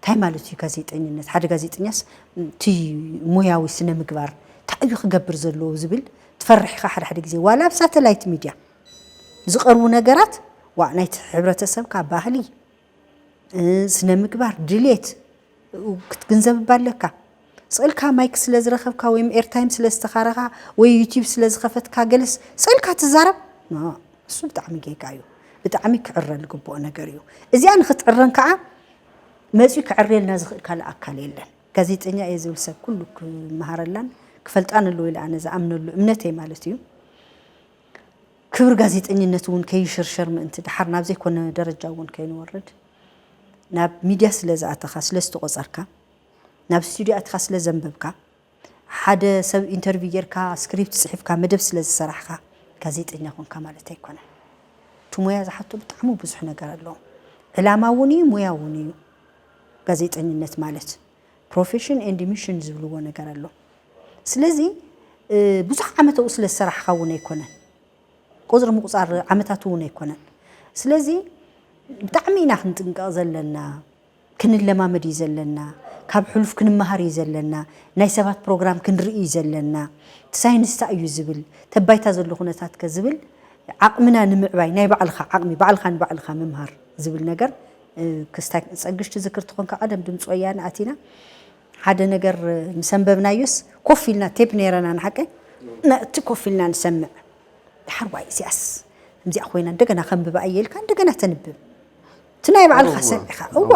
እንታይ ማለት እዩ ጋዜጠኝነት? ሓደ ጋዜጠኛስ እቲ ሞያዊ ስነ ምግባር እንታይ እዩ ክገብር ዘለዎ ዝብል ትፈርሕ ኢኻ ሓደ ሓደ ግዜ ዋላ ኣብ ሳተላይት ሚድያ ዝቐርቡ ነገራት ዋ ናይቲ ሕብረተሰብካ ባህሊ ስነ ምግባር ድሌት ክትግንዘብ እባ ኣለካ ስእልካ ማይክ ስለ ዝረኸብካ ወይም ኤርታይም ስለ ዝተኻረኻ ወይ ዩቲብ ስለ ዝኸፈትካ ገለስ ስእልካ ትዛረብ እሱ ብጣዕሚ ጌጋ እዩ ብጣዕሚ ክዕረ ዝግብኦ ነገር እዩ እዚኣ ንክትዕረን ከዓ መፅኡ ክዕርየልና ዝኽእል ካልእ ኣካል የለን ጋዜጠኛ እየ ዝብል ሰብ ኩሉ ክመሃረላን ክፈልጣን ኣለዎ ኢለ ኣነ ዝኣምነሉ እምነተይ ማለት እዩ ክብሪ ጋዜጠኝነት እውን ከይሽርሸር ምእንቲ ደሓር ናብ ዘይኮነ ደረጃ እውን ከይንወርድ ናብ ሚድያ ስለ ዝኣተኻ ስለ ዝተቖፀርካ ናብ ስቱድዮ ኣትኻ ስለ ዘንበብካ ሓደ ሰብ ኢንተርቪው ጌርካ ስክሪፕት ፅሒፍካ መደብ ስለ ዝሰራሕካ ጋዜጠኛ ኮንካ ማለት ኣይኮነን። እቲ ሙያ ዝሓቶ ብጣዕሚ ብዙሕ ነገር ኣለዎ። ዕላማ እውን እዩ ሙያ እውን እዩ ጋዜጠኝነት ማለት። ፕሮፌሽን ኤንድ ሚሽን ዝብልዎ ነገር ኣሎ ስለዚ ብዙሕ ዓመት ኣብኡ ስለ ዝሰራሕኻ እውን ኣይኮነን ቁፅሪ ምቁፃር ዓመታት እውን ኣይኮነን ስለዚ ብጣዕሚ ኢና ክንጥንቀቕ ዘለና ክንለማመድ እዩ ዘለና ካብ ሕሉፍ ክንመሃር እዩ ዘለና ናይ ሰባት ፕሮግራም ክንርኢ እዩ ዘለና ሳይንስታ እዩ ዝብል ተባይታ ዘሎ ኩነታት ከ ዝብል ዓቕምና ንምዕባይ ናይ ባዕልኻ ዓቕሚ ባዕልኻ ንባዕልኻ ምምሃር ዝብል ነገር ክስታይ ጸግሽ ትዝክር ትኾን ካብ ቀደም ድምጺ ወያነ ኣቲና ሓደ ነገር ምስ ኣንበብናዮስ ኮፍ ኢልና ቴፕ ነይረና ንሓቀይ ነቲ ኮፍ ኢልና ንሰምዕ ድሓር ዋይ እዚኣስ ከምዚኣ ኮይና እንደገና ከንብባ እየ ኢልካ እንደገና ተንብብ እቲ ናይ ባዕልኻ ሰብ ኢኻ እዋ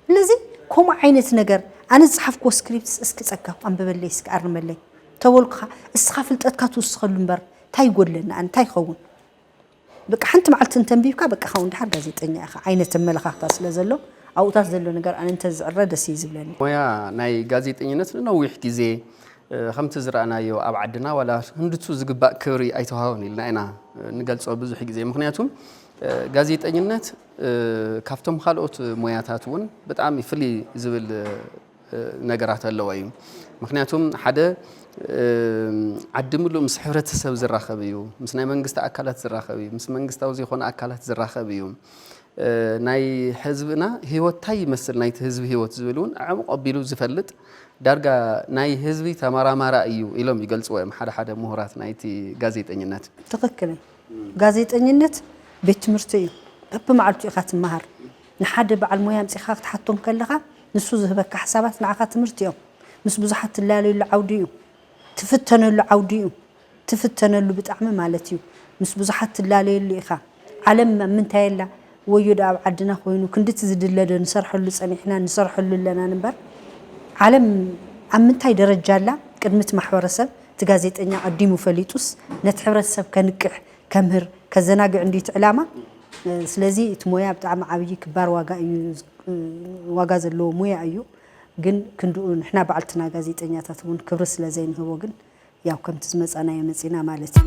ስለዚ ከምኡ ዓይነት ነገር ኣነ ዝፅሓፍክዎ ስክሪፕትስ እስኪ ፀጋው ኣንብበለይ እስኪ ኣርመለይ ተበልኩኻ እስኻ ፍልጠትካ ትውስኸሉ እምበር እንታይ ይጎድለኒ ኣነ እንታይ ይኸውን በቃ ሓንቲ መዓልቲ እንተንቢብካ በቃ ካው እንድሓር ጋዜጠኛ ኢኻ ዓይነት ኣመለኻኽታ ስለ ዘሎ ኣብኡታት ዘሎ ነገር ኣነ እንተዝዕረ ደስ እዩ ዝብለኒ። ሞያ ናይ ጋዜጠኝነት ንነዊሕ ግዜ ከምቲ ዝረኣናዮ ኣብ ዓድና ዋላ ክንድቱ ዝግባእ ክብሪ ኣይተዋህቦን ኢልና ኢና ንገልጾ ብዙሕ ግዜ ምክንያቱ ጋዜጠኝነት ካብቶም ካልኦት ሞያታት እውን ብጣዕሚ ፍልይ ዝብል ነገራት ኣለዎ እዩ ምክንያቱ ሓደ ዓዲ ምሉእ ምስ ሕብረተሰብ ዝራኸብ እዩ ምስ ናይ መንግስቲ ኣካላት ዝራኸብ እዩ ምስ መንግስታዊ ዘይኮነ ኣካላት ዝራኸብ እዩ ናይ ህዝብና ህይወት እንታይ ይመስል ናይቲ ህዝቢ ህይወት ዝብል እውን ዕምቕ ኣቢሉ ዝፈልጥ ዳርጋ ናይ ህዝቢ ተመራማራ እዩ ኢሎም ይገልፅዎ እዮም ሓደ ሓደ ምሁራት ናይቲ ጋዜጠኝነት ትኽክል እዩ ጋዜጠኝነት ቤት ትምህርቲ እዩ በብመዓልቱ ኢኻ ትመሃር ንሓደ በዓል ሞያ ኣምጺኻ ክትሓቶ እንከለኻ ንሱ ዝህበካ ሓሳባት ንዓኻ ትምህርቲ እዮም። ምስ ብዙሓት ትላለየሉ ዓውዲ እዩ። ትፍተነሉ ዓውዲ እዩ። ትፍተነሉ ብጣዕሚ ማለት እዩ። ምስ ብዙሓት ትላለየሉ ኢኻ። ዓለም ኣብ ምንታይ ኣላ? ወዮ ደኣ ኣብ ዓድና ኮይኑ ክንድቲ ዝድለ ዶ ንሰርሐሉ ጸኒሕናን ንሰርሐሉ ኣለናን እምበር ዓለም ኣብ ምንታይ ደረጃ ኣላ? ቅድሚ እቲ ማሕበረሰብ እቲ ጋዜጠኛ ኣቐዲሙ ፈሊጡስ ነቲ ሕብረተሰብ ከንቅሕ ከምህር ከዘናግዕ እንድዩ እቲ ዕላማ ስለዚ እቲ ሞያ ብጣዕሚ ዓብዪ ክባር ዋጋ እዩ ዋጋ ዘለዎ ሞያ እዩ ግን ክንድኡ ንሕና ባዕልትና ጋዜጠኛታት እውን ክብሪ ስለ ዘይንህቦ ግን ያው ከምቲ ዝመፃናዮ መፂና ማለት እዩ።